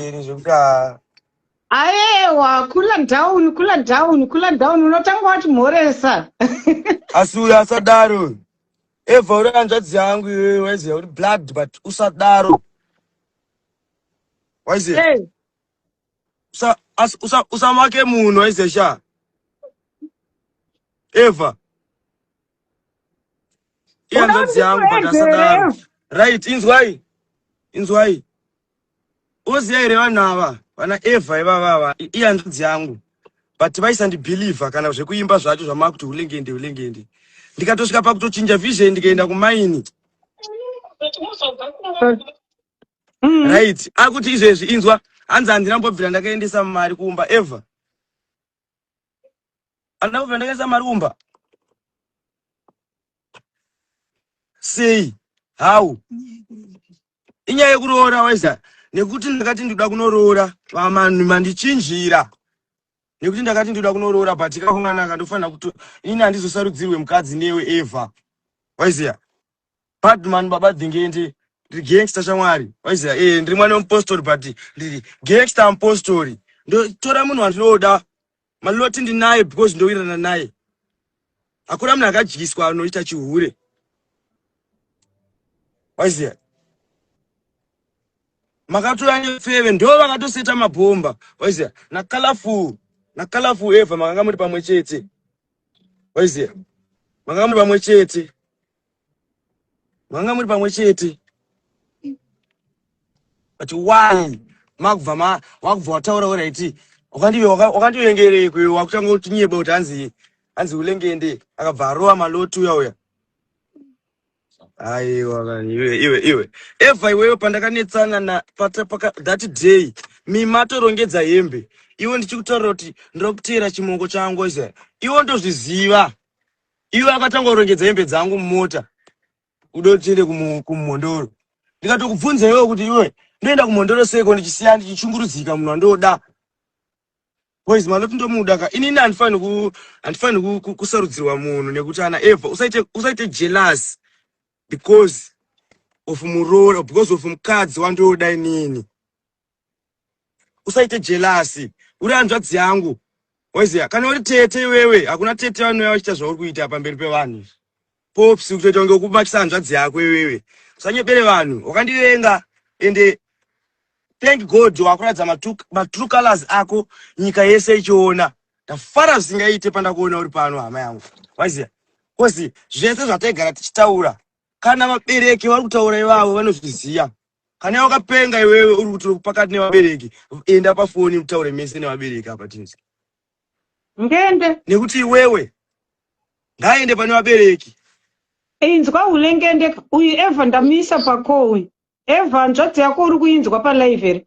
mberi zvekuti ah, ayewa kula down kula down kula down unotanga wati mhoresa asi uyo asadaro uyu evha uri hanzvadzi yangu iyoyo waiziva kuti blood but usadaro waiziva hey. usa- as- usa- usamake munhu waiziva sha evha ihanzvadzi yangu but asadaro right inzwai inzwai Unoziva here vanhu ava vana Eva ivava ava ihanzvadzi yangu but vaisandibhilivha kana zvekuimba zvacho zvamakuti hulengende hulengende ndikatosvika pakutochinja vision ndikaenda kumaini mm. right akuti izvezvi inzwa hanzi handina mbobvira ndakaendesa mari kuumba ever handina kubvira ndakaendesa mari kuumba sei how inyaya yekuroora waiza nekuti ndakati ndikuda kunoroora vamanhu mandichinjira nekuti ndakati ndikuda kunoroora but kakunganaka ndofanira kuti ini handizosarudzirwe mukadzi newe eva waiziya badman baba dhingende ndiri gangster shamwari waiziya e ndiri mwana wemupostori but ndiri gangster mupostori ndotora munhu wandinoda maloti ndinaye because ndowirirana naye hakuna munhu akadyiswa anoita chihure waiziva makatora nefeve ndo vakatoseta mabhomba waiziva nacolorful nacolorful ever makanga muri pamwe chete waiziva makanga muri pamwe chete manga muri pamwe chete but why makubva ma wakubva wataura uraiti wakandive wakandivengereko iwe wakutanga kutinyeba kuti hanzi hanzi ulengende akabva arova maloti uya uya aiwa iwe iwe iwe eva iwewe pandakanetsana na pata paka that day mimatorongedza hembe iwe ndichikutaura kuti ndiri kuteera chimongo changu iwe ndozviziva Ivo akatanga kurongedza hembe dzangu mumota kuda kuti tiende kumhondoro. Ndikatokubvunza iwewe kuti iwe ndoenda kumhondoro seko ndichisiya ndichichungurudzika munhu wandoda. Boys manoti ndomuda ka inini handifani ku handifani ku, kusarudzirwa munhu nekuti ana Eva usaite usaite jealous because of muroora because of mukadzi wandoda inini. usaite jelasi uri hanzvadzi yangu waiziva kana uri tete iwewe hakuna tete vanouya vachiita zvauri kuita pamberi pevanhu pops kutoita kunge ukubatisa hanzvadzi yako iwewe usanyepere vanhu wakandivenga ende thank god wakuratidza matrue colors ako nyika yese ichiona ndafara zvisingaite pandakuona uri pano hama yangu waiziva kozi zvese zvataigara tichitaura kana vabereki vari kutaura ivavo vanozviziva kana iwe wakapenga iwewe uri kuti uri pakati nevabereki enda pafoni utaure mese nevabereki apa tinzi ngende nekuti iwewe ngaaende pane vabereki inzwa ulengende uyu eva ndamuisa pako uyu eva nzvadzi yako uri kuinzwa palive here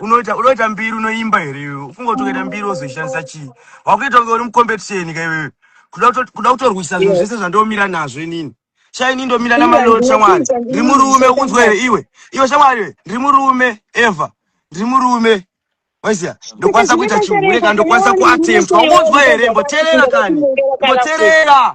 unoita unoita mbiri unoimba here iwe ufunga kuti ukaita mbiri wozoishandisa chii wakuita kunge uri mucompetition ka iwewe kuda kuto- kuda kutorwisa zvinhu zvese zvandomira nazvo inini sha ini ndomira namalot shamwari ndiri murume unzwa here iwe iwe shamwari iwe ndiri murume eva ndiri murume waiziya ndokwanisa kuita chihure kana ndokwanisa kuatempta ungonzwa here mboterera kani mboterera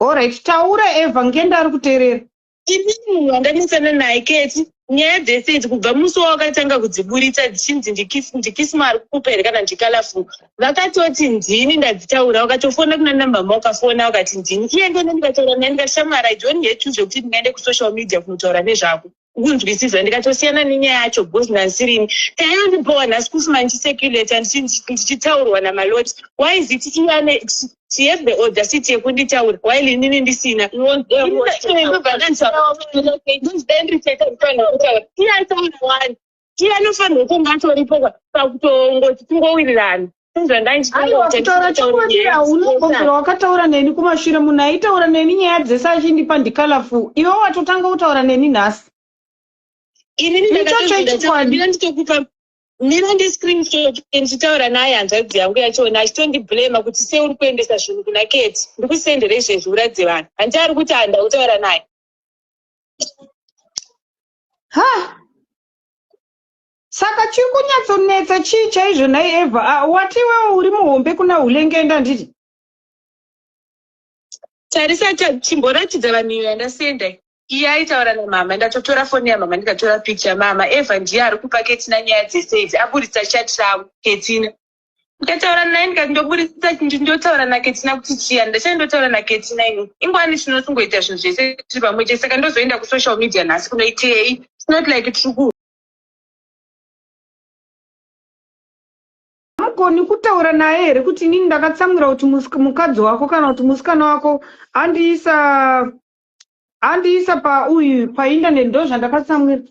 Alright, taura Eva, ngenda ari kuterera. Ini munhu wandanesana naye keti nyaya dzese idzi kubva musi wawakatanga kudziburitsa dzichinzi ndikisma ari kukupa here kana ndikalafu vakatoti ndini ndadzitaura wakatofona kuna nambama ukafona wakati ndini iye ndene ndikataura naye ndikashamwara idoni hetu zvekuti ndingaende kusocial media kunotaura nezvako kunzwisisa ndikatosiyana nenyaya yacho because nhansirini tayondipowa nhasi kusi mandiseculator ndichitaurwa namaloti why is it iane she have the audacity yekunditaura while inini ndisina iye anofanirwa kunge atoripo pakutongoti tingowirirana sezvandaiaunogogera wakataura neni kumashure munhu aitaura neni nyaya dzese achindipa ndikalafu iwe watotanga kutaura neni nhasi iniichocho ichikwadi nina ndiscreenshot ndichitaura naye hanzvadzi yangu yachona achitondiblema kuti se uri kuendesa zvinhu kuna keti ndikusendere izvezvi uradze vanhu hanti ari kuti handakutaura naye ha saka chiri kunyatsonetsa chii chaizvo nhai eva ah, wati iwewo uri muhombe kuna hulengenda nditi tarisa chimboratidza vanhu iyo yandasenda iye aitaura namama ndatotora foni yamama ndikatora picha mama eva ndiye ari kupa ketina nyaya dzese idzi aburitsa chati ravo ketina ndikataura naye ndikati ndoburisisa chinhu ndotaura naketina kuti chiya ndachai ndotaura naketina ini ingwani tinosungoita zvinhu zvese tiri pamwe chete saka ndozoenda kusocial media nhasi kunoitei not like triku agoni kutaura naye here kuti inini ndakatsamwira kuti mukadzi wako kana kuti musikana wako andiisa andiisa pauyu painternet ndo zvandakatsamwira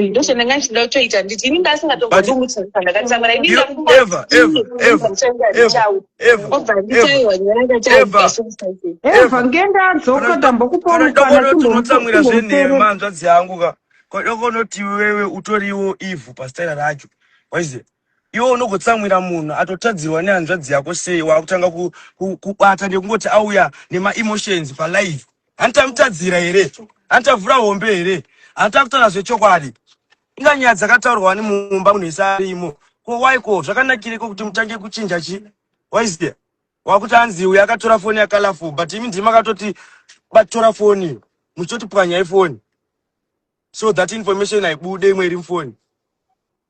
ndozvandanga ndichida kutoita nditi ini ndasingatomboimuchandakatsamwira iniaeva ngendadzoka tambokupoatinotsamwira zvenhema hanzvadzi yangu ka kodokonoti wewe utoriwo ivhu pastaira racho waiziva Iwe unogotsamwira munhu atotadzirwa nehanzvadzi yako sei wakutanga kubata nekungoti auya nemaemotions palive hanti tamutadzira here hanti tavhura hombe here hanti takutaura zvechokwadi inga nyaya dzakataurwa ni mumba munhu ese arimo ko waiko zvakanakireko kuti mutange kuchinja chi waizia wakuti hanzi uyo akatora foni yakalaful but imi ndimi makatoti batora foni muchitoti pwanyai foni so that information haibude imwe iri mufoni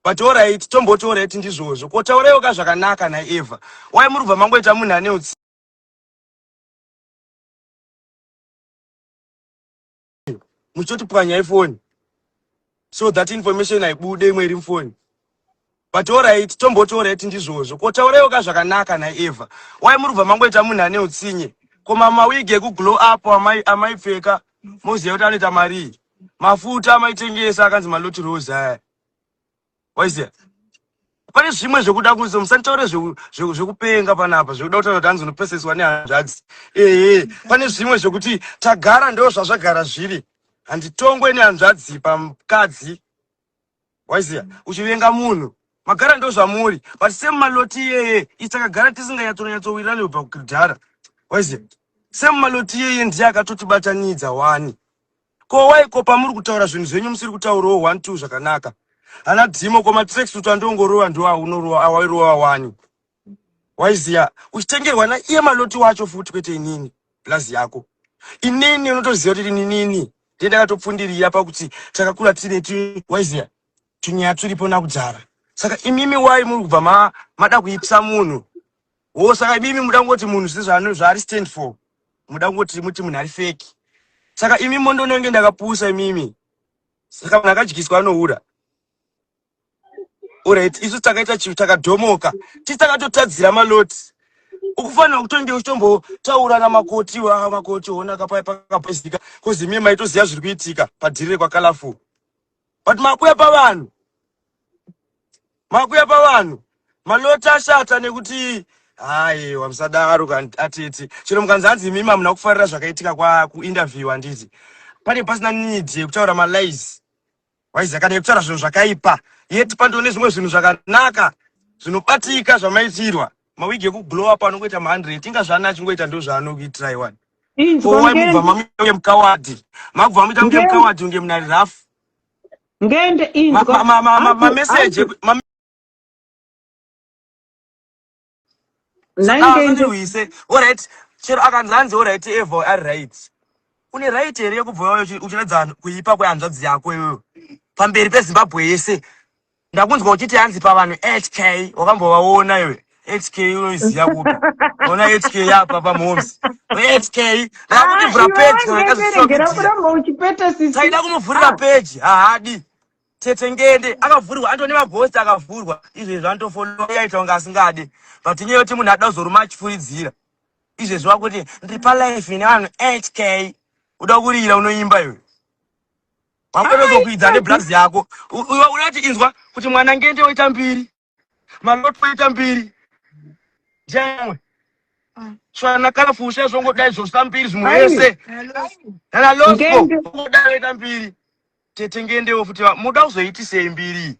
but orit tomboti orit ndizvozvo ko tauraiwo ka zvakanaka naeva wai muri kubva mangoita munhu ane utsi muchitoti pwanya ifoni so that information haibude imwe iri mufoni but orit tomboti orit ndizvozvo ko tauraiwo ka zvakanaka naeva wai muri kubva mangoita munhu ane utsinye ko mamawigi ekuglow up amaipfeka moziva kuti anoita marii mafuta amaitengesa akanzi maloti rose aya waiziva pane zvimwe zvekuda kunzi musanditaure zvekupenga panapa zvekuda kutaura kuti hanzi unopeseswa nehanzvadzi ehe pane zvimwe zvekuti tagara ndo zvazvagara zviri handitongwe nehanzvadzi pamukadzi waiziva uchivenga munhu magara ndozvamuri but same maloti iyeye isi takagara tisinganyatsonyatsowirani kubva kudhara waiziva same maloti iyeye ndiye akatotibatanidza wani ko waiko pamuri kutaura zvinhu zvenyu musiri kutaurawo one two zvakanaka hana dhimo ko matrexut andongorova ndoaunorova awairowa wani waiziva uchitengerwa naiye maloti wacho futi kwete inini plus yako inini unotoziva kuti inini ndiye ndakatopfundirira pakuti takakura tine waiziva tunyaya turipo nakudzara saka imimi wai muri kubva ma, mada kuipisa munhu wo saka imimi muda kungoti munhu zvine zvaari stand for muda kungoti muti munhu ari feki saka imimi ndonenge ndakapusa imimi saka munhu akadyiswa anoura Alright, isu takaita chivi takadhomoka. Tisi takatotadzira maloti. Ukufanira kutonge uchitombotaura namakoti wa makoti ona kapaya pakapoisika kozi mie maitoziva zviri kuitika padhirire kwa colorful. But makuya pavanhu. Makuya pavanhu. Maloti ashata nekuti hayi wamusadaro kan- atete. Chero mukanzi hanzi imi mamuna kufarira zvakaitika kwa kuinterview handiti. Pane pasina need yekutaura malies. waiziva kana yekutaura zvinhu zvakaipa yet pandoo nezvimwe zvinhu zvakanaka zvinobatika zvamaitirwa mawigi ekuglow up anongoita ma100 inga zvaana achingoita ndo zvaanokuitirai wani owaimubva mamuge mukawadi makubva mamuita muge mukawadi unge munari rafu ngende inzwa mameseji Nine Saka days. uise alright chero akanzi hanzi alright evo ari right une right here yekubva wauya uchi- uchiratidza vanhu kuipa kwehanzvadzi yako iwewe pamberi pezimbabwe yese ndakunzwa uchiti hanzi pavanhu hk wakambovaona iwe hk unoiziva kupi ona hk yapa pamhoms hk ndakakutibvura Ah, iwe peji wange wakaregera wakazvisvakutira kuramba uchipeta sisi. taida kumuvhurira Ah, peji haadi Tete ngende akavhurwa anto nemabhosti akavhurwa izvezvi antofonoa yaita kunge asingade but inyaya yoti munhu ada kuzoruma achifuridzira izvezvi wakuti ndiri palife nevanhu hk uda kurira unoimba iwe wakuda kuzokuidza neblazi yako unoti inzwa kuti mwana ngende oita mbiri maloto aita mbiri jemwe tsvana kana fusha izvongodai zvosta mbiri zvimwe yese kana losco ungodai oita mbiri tete ngendewo futi muda kuzoitisei mbiri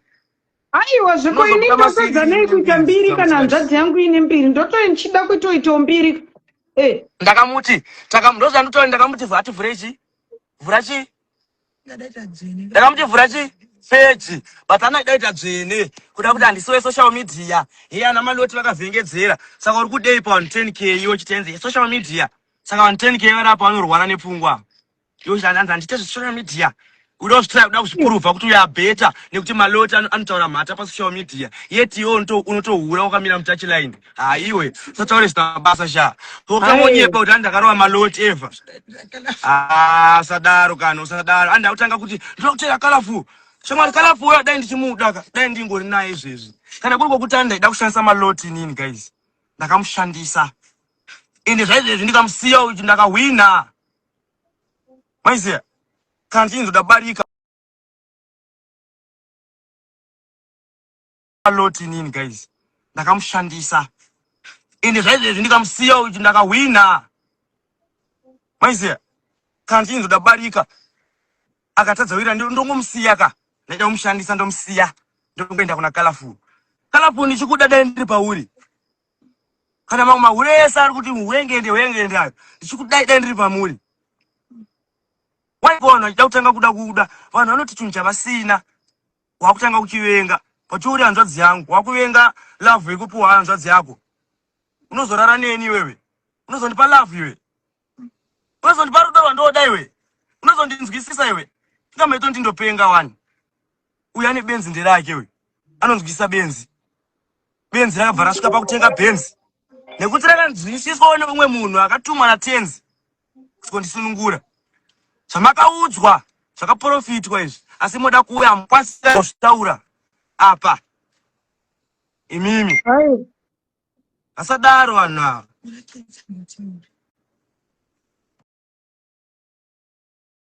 aiwa zviko ini ndosadzanei kuita mbiri kana hanzvadzi yangu ine mbiri ndotoi ndichida kuitoitawo mbiri eh. ndakamuti ndozandotoi ndakamuti vati vhura ichi vhura chii ndakamuti vhura chi peji but anodaita dzvene kuda kuti handisi wesocial media heye ana maloti vakavhengedzera saka uri kudei pa 10 k iwo chitenzi yesocial media saka vanhu 10 k vari apa vanorwara nepfungwa iwo hanzi handiite zvesocial media uda kuzvitira kuda kuzvipurovha kuti uya beta nekuti maloti anotaura mhata pasocial media yet iwo unotohura wakamira mutachiline Ah, iwe usataure zvisina basa sha ukangonyepa kuti andakarova maloti eva ah, usadaro kana usadaro andi akutanga kuti ndoda kutera kalafu shamwari kalafu uya dai ndichimuda ka dai ndingori naye izvezvi kana kuri kwokuti andaida kushandisa maloti inini guys ndakamushandisa ende zvaizvezvi ndikamusiya uyu ndakahwina maiziya kana ndichinzoda barika lot inini guys ndakamushandisa ende zvaizvezvi ndikamusiya uyu ndakahwina maiziva kana ndichinzi ndabarika akatadza wira ndongomusiya ka ndaita kumushandisa ndomusiya ndokuenda kuna kalafuni kalafuni ndichikuda dai ndiri pauri kana mamwe mahure ese ari kuti muhwengende hwengende ayo ndichikudai dai ndiri pamuri waiona achida kutanga kuda kuda vanhu vanoti chinhu chavasina wakutanga kuchivenga but uri hanzvadzi yangu wakuvenga love yekupuwa hanzvadzi yako unozorara neni iwewe unozondipa love iwe unozondipa rudo rwandoda iwe unozondinzwisisa iwe ingameto ndindopenga wani uyu ane benzi nderake uyu anonzwisisa benzi benzi rakabva rasvika pakutenga benzi nekuti rakanzwisiswawo neumwe munhu akatumwa natenzi kundisunungura zvamakaudzwa zvakaprofitwa izvi asi moda kuuya hamukwanisa kuzvitaura apa imimi asadaro vanhu ava